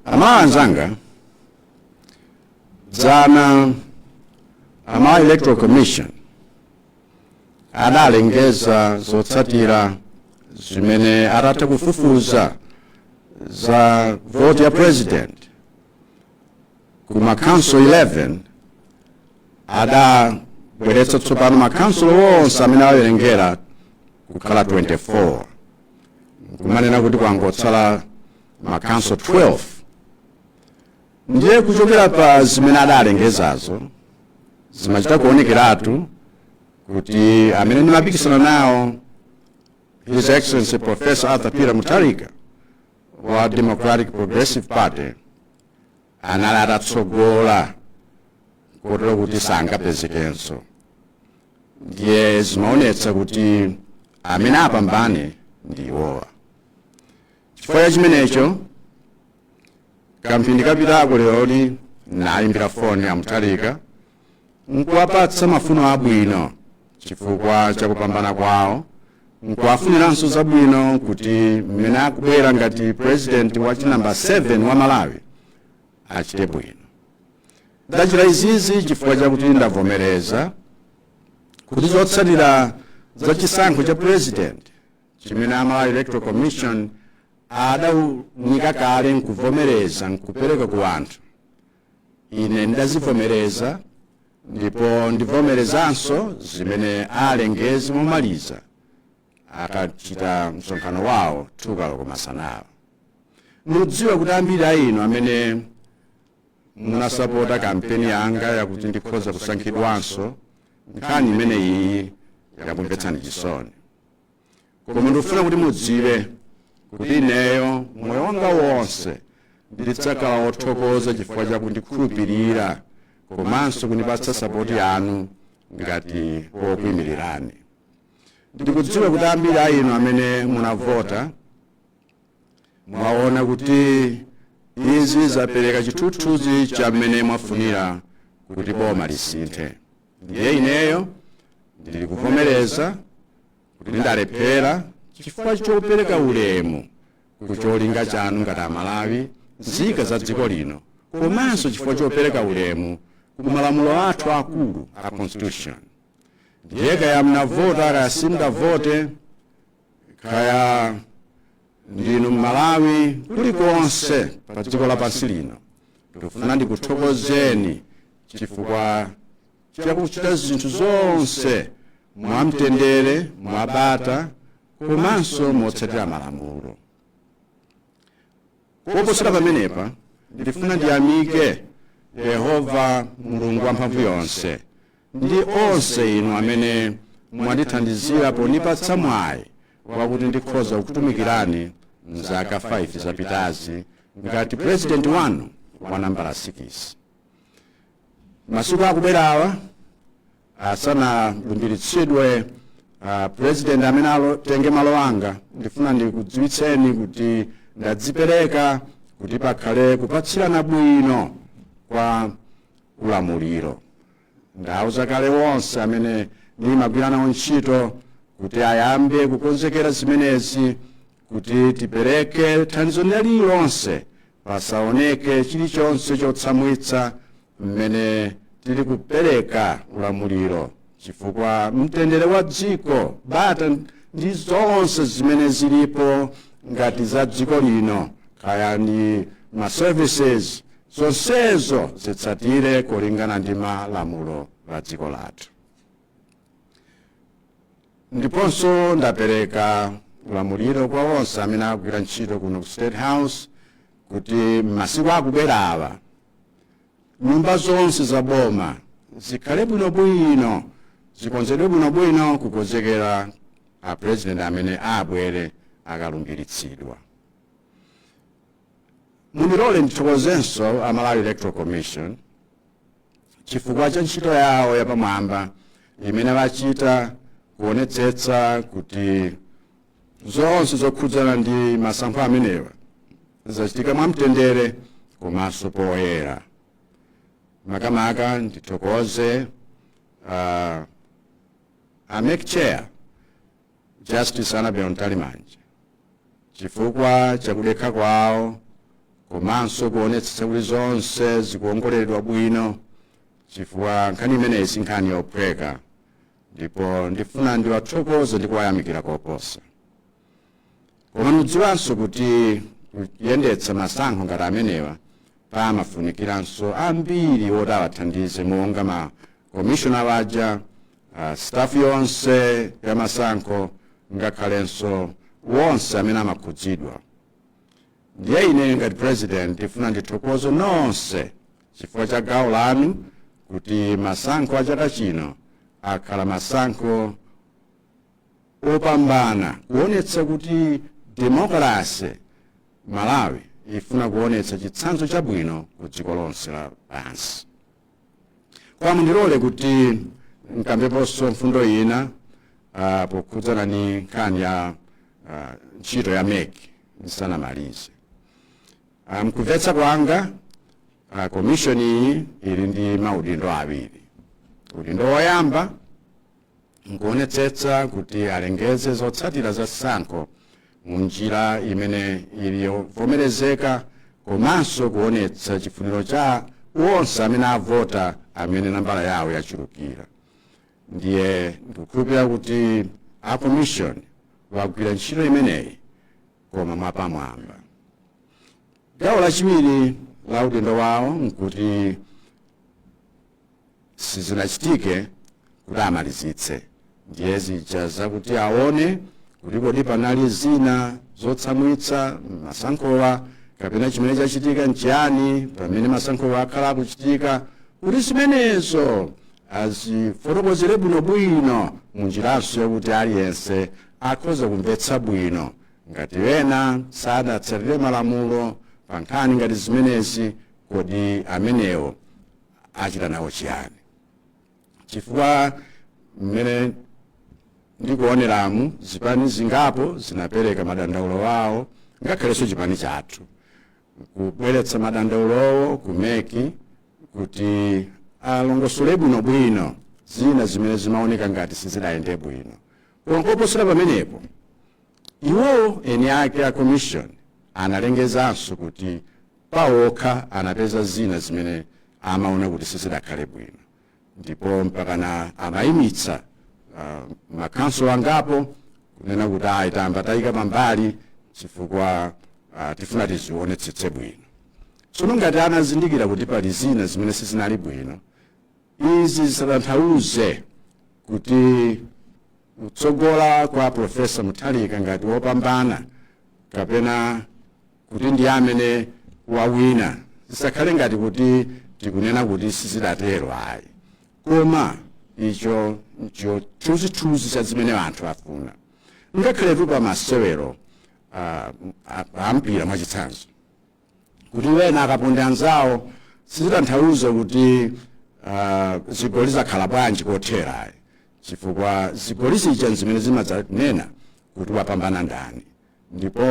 amalawi anzanga dzana amalawi electoral commission adalengeza zotsatira zimene atatha kufufuza za voti ya president ku makhansolo 11 adabweretsa tsopano makhansolo onse amene awerengera kukhala 24 kumanena kuti kwangotsala makhansolo 12 ndiye kuchokera pa zimene adalengezazo zimachita kuonekeratu kuti amene ndimapikisana nawo his excellency professor arthur peter mutharika wa democratic progressive party anali atatsogola kotero kuti sangapezekenso ndiye zimaonetsa kuti amene apambane ndi iwowa chifukwa cha chimenecho kamphindi kapitako leroli ndaimbira foni a mutharika nkuwapatsa mafuno abwino chifukwa cha kupambana kwawo nkuwafuniranso zabwino kuti mmene akubwera ngati president wa chinambala 7 wa malawi achite bwino ndachita izizi chifukwa chakuti ndavomereza kuti zotsatira za chisankho cha president chimene amalawi electoral commission adaunika kale nkuvomereza nkupereka ku anthu ine ndazivomereza ndipo ndivomerezanso zimene alengeze momaliza akachita msonkhano wawo 2 koloko masanawa ndikudziwa kuti ambiri a inu amene munasapota kampeni yanga yakuti ndikhoza kusankhidwanso nkhani imene iyi yakumvetsani chisoni koma ndikufuna kuti mudziwe kuti ineyo moyo wanga wonse ndidzakhala wothokoza chifukwa cha kundikhulupirira komanso kundipatsa sapoti yanu ngati wokuimirirani ndikudziwa kuti ambiri a inu amene munavota mwaona kuti izi zapereka chithunzithunzi cha mmene mwafunira kuti boma lisinthe ndiye ineyo ndili kuvomereza kuti ndalephera chifukwa chopereka ulemu ku cholinga chanu ngati amalawi nzika za dziko lino komanso chifukwa chopereka ulemu ku malamulo athu akulu a constitution ndiye kaya mnavota kaya simunavote kaya ndinu mmalawi kulikonse pa dziko lapansi lino ndikufuna ndikuthokozeni chifukwa chakuchita zinthu zonse mwamtendere mwabata komanso motsatira malamulo koposera pamenepa ndifuna ndiyamike yehova mulungu wamphamvu yonse ndi onse inu amene mwandithandizira pondipatsa mwayi wakuti ndikhoza kukutumikirani mzaka 5 zapitazi ngati purezidenti wanu wa nambala 6 masiku akubwerawa asanalumbiritsidwe uh, president amene atenge malo anga ndifuna ndikudziwitseni kuti ndadzipereka kuti pakhale kupatsirana bwino kwa ulamuliro ndauza kale onse amene ndimagwira nawo ntchito kuti ayambe kukonzekera zimenezi kuti tipereke thandizo lina lililonse pasaoneke chilichonse chotsamwitsa mmene tili kupereka ulamuliro chifukwa mtendere wa dziko bata ndi zonse zimene zilipo ngati za dziko lino kaya ndi ma services zonsezo zitsatire kulingana ndi malamulo la dziko lathu ndiponso ndapereka ulamuliro kwa onse amene akugwira ntchito kuno ku state house kuti m'masiku akubwerawa nyumba zonse za boma zikhale bwinobwino zikonzedwe bwinobwino kukonzekera a president amene abwere akalumbiritsidwa mundilole ndithokozenso a malawi electoral commission chifukwa cha ntchito yawo yapamwamba imene achita kuonetsetsa kuti zonse zokhudzana ndi masankho amenewa zachitika mwamtendere komanso poyera makamaka ndithokoze uh, a MEC chair Justice Annabel Mtalimanja chifukwa cha kudekha kwawo komanso kuonetsetsa kuti zonse zikuongoleredwa bwino chifukwa nkhani imeneyi si nkhani yophweka ndipo ndifuna ndiwathokoze ndi kuwayamikira koposa koma mudziwanso kuti kuyendetsa masankho ngati amenewa pamafunikiranso ambiri oti awathandize monga ma commissioner waja uh, staff yonse ya masankho ngakhalenso wonse amene amakhudzidwa ndiye ine ngati president ndifuna ndithokoze nonse chifukwa cha gawo lanu kuti masankho a chaka chino akhala masankho opambana kuonetsa kuti demokrasi malawi ifuna kuonetsa chitsanzo chabwino ku dziko lonse lapansi kwa mundilole kuti nkambeponso mfundo ina ah, pokhudzana ndi nkhani ya ah, ntchito ya mec ndisanamalize Ah, mkumvetsa kwanga ah, komishoni iyi ili ndi maudindo awiri udindo woyamba nkuonetsetsa kuti alengeze zotsatira za sankho mu njira imene ili yovomerezeka komanso kuonetsa chifuniro cha onse amene avota amene nambala yawo yachulukira ndiye ndikukhulupirira kuti a commission wagwira ntchito imeneyi koma mwapamwamba gawo lachiwiri la udindo wawo nkuti sizinachitike kuti amalizitse ndiye zija zakuti aone kuti kodi panali zina zotsamwitsa mmasankhowa kapena chimene chachitika nchiyani pamene masankhowa akhala akuchitika kuti zimenezo azifotokozere bwinobwino munjiranso yakuti aliyense akhoza kumvetsa bwino ngati ena sadatsatire malamulo pa nkhani ngati zimenezi kodi amenewo achita nawo chiyani chifukwa mmene ndikuoneramu zipani zingapo zinapereka madandaulo awo ngakhalenso chipani chathu kubweretsa madandaulowo ku mec kuti alongosole bwinobwino zina zimene zimaoneka ngati sizidayende bwino koma koposera pamenepo Iwowo eni ake a Commission analengezanso kuti pa okha anapeza zina zimene amaona kuti sizidakhale bwino ndipo mpakana amayimitsa uh, makhonsolo angapo kunena kuti ayi tayamba tayika pambali chifukwa uh, tifuna tizionetsetse bwino tsono ngati anazindikira kuti pali zina zimene sizinali bwino Izi zisatanthauze kuti kutsogola kwa Professor Mutharika ngati wopambana kapena kuti ndi amene wawina zisakhale ngati kuti tikunena kuti sizidatero ayi koma icho ncho chithunzithunzi cha zimene anthu afuna ngakhaletu pa masewero ah, a mpira mwachitsanzo kuti wena akaponda anzawo sizitanthauza kuti ah, zigoli zakhala bwanji kothera ayi chifukwa zigoli zija zimene zimadzanena kuti wapambana ndani ndipo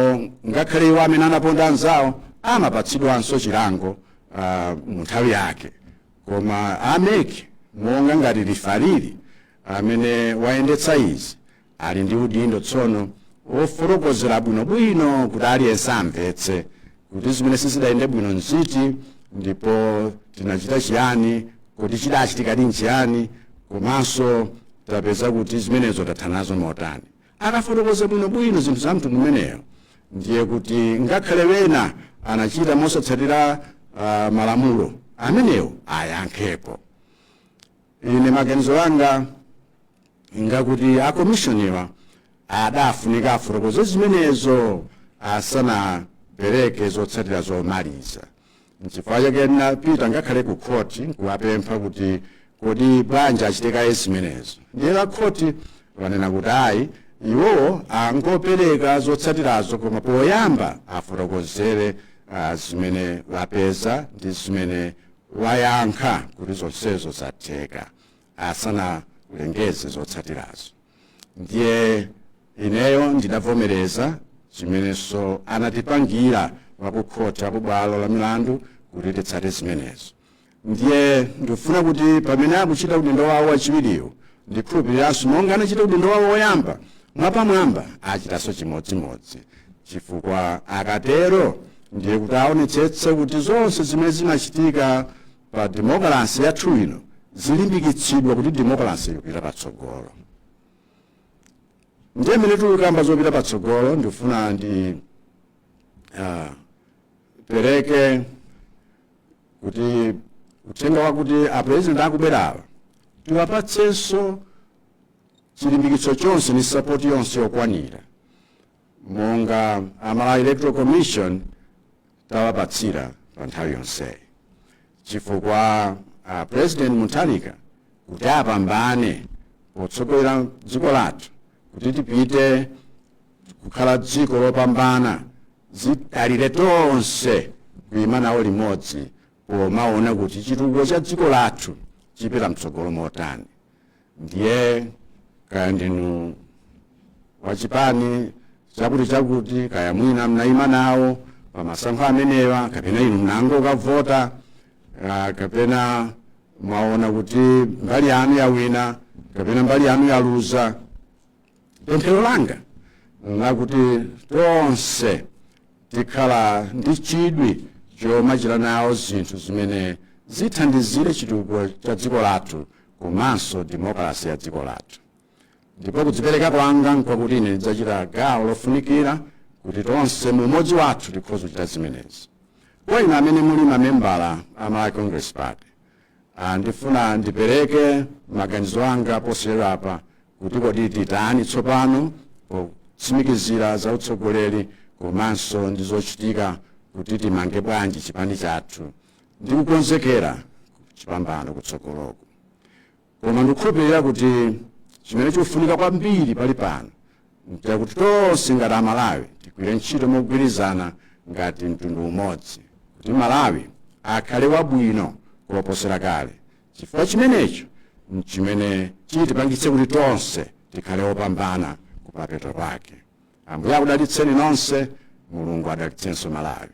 ngakhale iwo amene anaponda anzawo amapatsidwanso chilango ah, mu nthawi yake koma a MEC monga ngati lifali amene wayendetsa izi ali ndi udindo tsono wofotokozera bwinobwino kuti aliyense amvetse kuti zimene sizidayende bwino nziti ndipo tinachita chiyani kodi chidachitikadi nchiyani komanso tapeza kuti zimenezo tathana nazo motani akafotokoza bwinobwino zinthu za mtundu umenewo ndiye kuti ngakhale wena anachita mosatsatira uh, malamulo amenewo ayankhepo ine maganizo anga ngakuti akomishoniwa adafunika afotokoze zimenezo asanapereke zotsatira zomaliza nchifukwa chake ndinapita ngakhale ku khoti nkuwapempha kuti kodi bwanji achite kaye zimenezo ndiye a khoti anena kuti ayi iwowo angopereka zotsatirazo koma poyamba afotokozere ah, zimene apeza ndi zimene ayankha kuti zonsezo zatheka asanaulengeze zotsatirazo ndiye ineyo ndidavomereza chimenenso anatipangira akukhoti ku bwalo la milandu kuti titsate zimenezo ndiye ndifuna kuti pamene akuchita udindo wawo wachiwiriwo ndikhulupiriranso monga anachita udindo wawo woyamba mwapamwamba achitanso chimodzimodzi chifukwa akatero ndiye kuti aonetsetse kuti zonse zimene zimachitika pa demokalase yathu ino zilimbikitsidwa kuti demokalase ipita patsogolo ndiye mmene tikukamba zopita patsogolo ndifuna ndi ah, pereke kuti uthenga wakuti apurezidenti akubwerawa tiwapatsenso chilimbikitso chonse ndi sapoti yonse yokwanira monga a Malawi Electoral Commission tawapatsira pa nthawi yonseyi chifukwa a President Mutharika kuti apambane potsogolera dziko lathu kuti tipite kukhala dziko lopambana zidalire tonse kuima nawo limodzi pomaona kuti chitukuko cha dziko lathu chipita mtsogolo motani ndiye kaya ndinu wachipani chakuti chakuti kaya mwina mnayima nawo pamasankho amenewa kapena inu mnangokavota ah, kapena mwaona kuti mbali yanu yawina kapena mbali yanu yaluza Pemphero langa n'lakuti tonse tikhala ndi chidwi chomachita nawo zinthu zimene zithandizire chitukuko cha dziko lathu komanso demokalase ya dziko lathu. Ndipo kudzipereka kwanga nkwakuti ine ndidzachita gawo lofunikira kuti tonse mu umodzi wathu tikhoze kuchita zimenezi. Kwa inu amene muli mamembala a Malawi Congress Party, Ndifuna ndipereke maganizo anga posachedwapa kuti kodi titani tsopano potsimikizira za utsogoleri komanso ndi zochitika kuti timange bwanji chipani chathu ndi kukonzekera chipambano kutsogoloko koma ndikukhulupirira kuti chimene chikufunika kwambiri pali pano nchakuti tonse ngati amalawi tigwire ntchito mogwirizana ngati mtundu umodzi kuti malawi akhale wabwino koposera kale chifukwa chimenecho nchimene chitipangitse kuti tonse tikhale opambana kumapeto pake ambuye akudalitseni nonse mulungu adalitsenso malawi